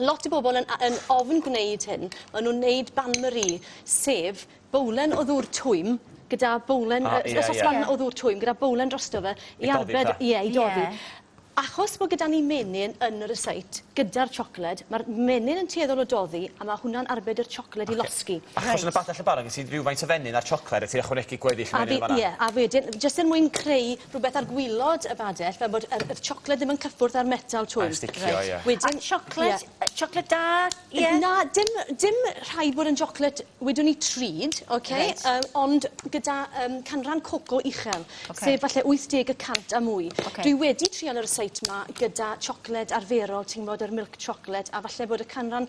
Lot o bobl yn yn ofn gwneud hyn. Maen nhw'n wneud bain-marie, sef bowlen o ddŵr twym gyda bowlen... O, ie, ie. ...soslan o ddŵr twym gyda bowlen drosto fe i arbed... I doddi 'te? ...ie, i doddi. Ie. Achos bod gyda ni menyn yn y resit gyda'r siocled, ma'r menyn yn tueddol o doddi a ma' hwnna'n arbed i'r siocled i losgi. Ocê. Reit. Achos yn y bach 'na lle barod gen ti rywfaint o fenyn a'r siocled a ti'n ychwanegu gweddill y menyn yn fanna? A fi, ie, a wedyn jyst er mwyn creu rhywbeth ar gwilod y badell fel bod yr yr chocolate ddim yn cyffwrdd â'r metal twm. Mae'n sticio Reit. ie. Wedyn... A chocolate ie. yy chocolate da ie? Na dim dim rhaid bod yn chocolate wedwn ni treed oce? Reit. Yym ond gyda yym canran coco uchel. Oce. Sef falle 80 y cant a mwy. Oce. Dwi wedi trial y ryseit 'ma gyda chocolate arferol ti'n 'bod yr milk chocolate a falle bod y canran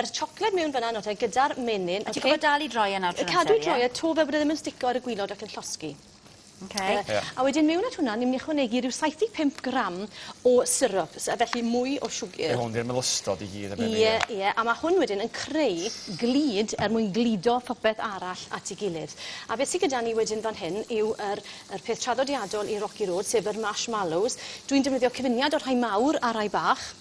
Yr chocolate mewn fynna nawr te gyda'r menyn. Ti gorfod dal i droi e nawr trwy'r amser ie? Cadw i droi e to fel bod e ddim yn stico ar y gwilod ac yn llosgi. Ok. Ie. A wedyn mewn at hwnna ni myn' i ychwanegu ryw saith deg pump gram o syrup sy- a felly mwy o siwgyr. Yw hwn 'di'r melystod i gyd yn benni ie? Ie ie a ma' hwn wedyn yn creu glud er mwyn gludo popeth arall at 'i gilydd. A beth sy gyda ni wedyn fan hyn yw yr yr peth traddodiadol i Rocky Road sef yr marshmallows. Dwi'n defnyddio cyfuniad o rhai mawr a rhai bach.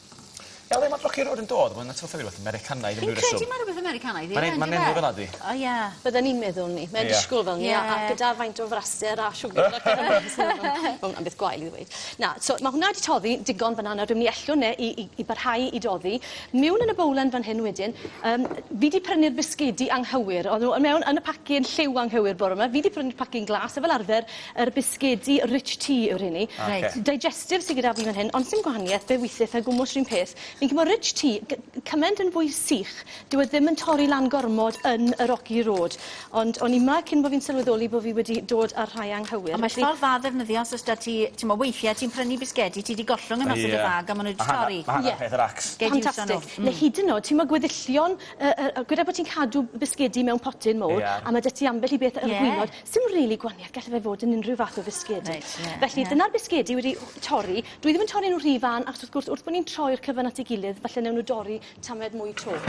Ia le ma' Brocc Road yn dod? Mae'n atgoffa fi rwbeth Americanaidd am ryw reswm. Fi'n credu ma' rwbeth Americanaidd yw e yndyfe? Ma'n en- ma'n enw fel 'a 'di. O ie. Bydden i'n meddwl 'ny. Mae'n disgwl fel 'ny a a gyda faint o fraser a siwgr a pethe fel 'ny so ma' ma' hwnna'n beth gwael i ddweud. Na so ma' hwnna 'di toddi digon fan 'na nawr dwi myn' i ellw 'ne i i i barhau i doddi miwn yn y bowlen fan hyn wedyn yym fi 'di prynu'r bisgedi anghywir o'dd n'w yy mewn yn y pacyn lliw anghywir bore 'ma fi 'di prynu'r pacyn glas a fel arfer Yr bisgedi rich tea yw'r rheiny. Ah oce. Reit. Digestive sy gyda fi fan hyn ond sdim gwahanieth fe withith e gwmws run peth. Fi'n credu bo rich tea gy- gy- cyment yn fwy sych dyw e ddim yn torri lan gormod yn y rocky road ond o'n i 'ma cyn bo fi'n sylweddoli bo fi wedi dod â'r rhai anghywir felly... Ond mae ffordd dda o ddefnyddio os o's 'da ti t'mo weithie ti'n prynu bisgedi ti 'di gollwng e mas o dy fag a ma' n'w 'di torri. Ma' hanner peth yr acs. Gei di iwso n'w. Fantastic. Ne' hyd yn o'd t'mo gweddillion yy yy gwed e bo' ti'n cadw bisgedi mewn potyn mowr a ma' 'da ti ambell i beth ar y gwilod. Sdim rili gwanieth gelle fe fod yn unrhyw fath o fisgedi. Reit ie. Felly dyna'r bisgedi wedi torri. Dwi ddim yn torri n'w rhy fân achos wrth gwrs wrth bo' ni'n troi'r cyfan at ei gilydd falle newn n'w dorri tamaid mwy 'to.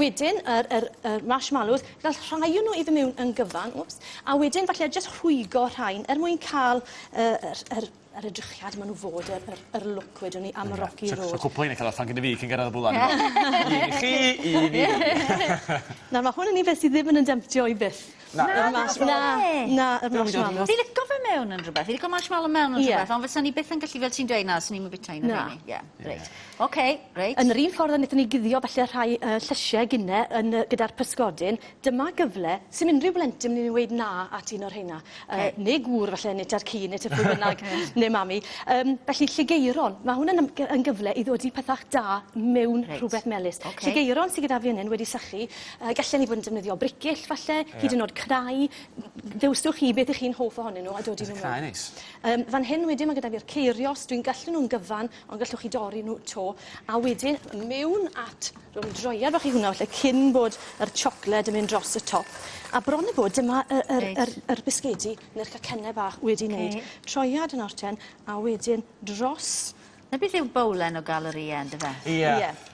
Wedyn yr yr yr marshmallows gall rhai o n'w i fy' miwn yn gyfan, wps, a wedyn falle jyst rhwygo rhain er mwyn ca'l y yr yr yr edrychiad ma' n'w fod yr yr yr look wedwn i am y Rocky Road. So so cwpwl rheina ca'l offer gynno fi cyn gyrradd y bwled yma. Un i chi un i fi. Nawr ma' hwn yn un beth sy ddim yn 'yn demtio i byth. Na. Na na na. Na na yr marshmallows. Fi lico fe mewn yn rwbeth fi lico marshmallow mewn yn rwbeth ond fysan i byth yn gallu fel ti'n dweud na swn i'm yn bita un o rheini. Na. Ie reit. Oce reit. Yn yr un ffordd a nethon ni guddio falle rhai yy llysie gine yn yy gyda'r pysgodyn Dyma gyfle, sim unrhyw blentyn mynd i ddweud na at un o'r rheina. Yy, ne gŵr falle, ne tad cu, ne tŷ pwy bynnag, ne mami. Yym, felly Lligeiron, ma' hwn yn ym- gy- yn gyfle i ddodi pethach da mewn rhwbeth melys. Lligeiron sy gyda fi yn 'yn wedi sychu, yy gallen ni fod yn defnyddio bricyll falle, hyd yn o'd crai, ddewswch chi beth 'ych chi'n hoff ohonyn nw a dodi nw mewn. Crai neis. Yym, fan hyn wedyn ma' gyda fi'r ceirios, dwi'n gallu nw'n gyfan, Ond gallwch chi dorri nhw 'to a wedyn mewn at rhwng droiad fach i hwnna falle cyn bod yr siocled yn mynd dros y top. A bron a bod dyma y yr Reit. yr yr bisgedi ne'r cacenne bach wedi neud. Ocê. Troiad yn orten a wedyn dros 'Na beth yw bowlen o galorïe yndyfe? Ie. Ie.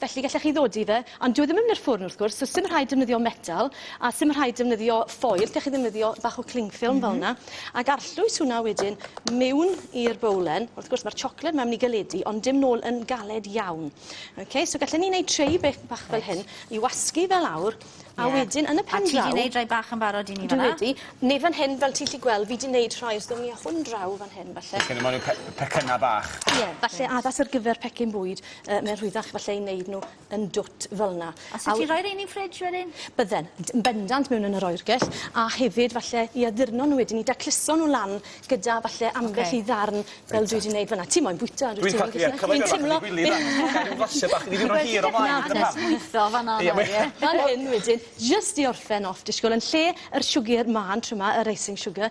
Felly gallech chi ddodi fe, ond dyw e ddim yn mynd i'r ffwrn wrth gwrs, so sdim rhaid defnyddio metal, a sdim rhaid defnyddio ffoil, gallech chi ddefnyddio bach o cling film mm -hmm. fel yna, ac arllwys hwnna wedyn mewn i'r bowlen. Wrth gwrs mae'r siocled mae'n mynd i galedu, ond dim nôl yn galed iawn. Okay, so gallwn ni wneud treu bach, bach fel hyn, i wasgu fel awr, a yeah. wedyn yn y pen draw... A ti wedi gwneud rhai bach yn barod i ni fanna? Dwi wedi. Neu fan hyn, fel ti'n lli gweld, fi wedi gwneud rhai, os ddim ni â hwn draw fan hyn, falle. Felly, mae'n pe pecynna bach. Ie, yeah, falle addas ar gyfer pecyn bwyd. Yy mae'n rhwyddach falle i wneud nhw yn dwt fel 'na. A 'set ti'n rhoi rhein i'n ffrij wedyn? Bydden. D- yn bendant mewn yn yr oergell a hefyd falle i addurno nhw wedyn i dacluso nhw lan gyda falle ambell i ddarn fel dwi 'di neud fan 'na. Ti moyn bwyta on'd wyt ti? Dwi'n ca'l ie cyfle bach i wylio fe. Ca'l ryw flasie bach i fi hir ymlaen dyna pam. Lwytho fan 'na nawr ie? Fel hyn wedyn jyst i orffen off disgwl yn lle yr siwgyr mân trw 'ma yr icing sugar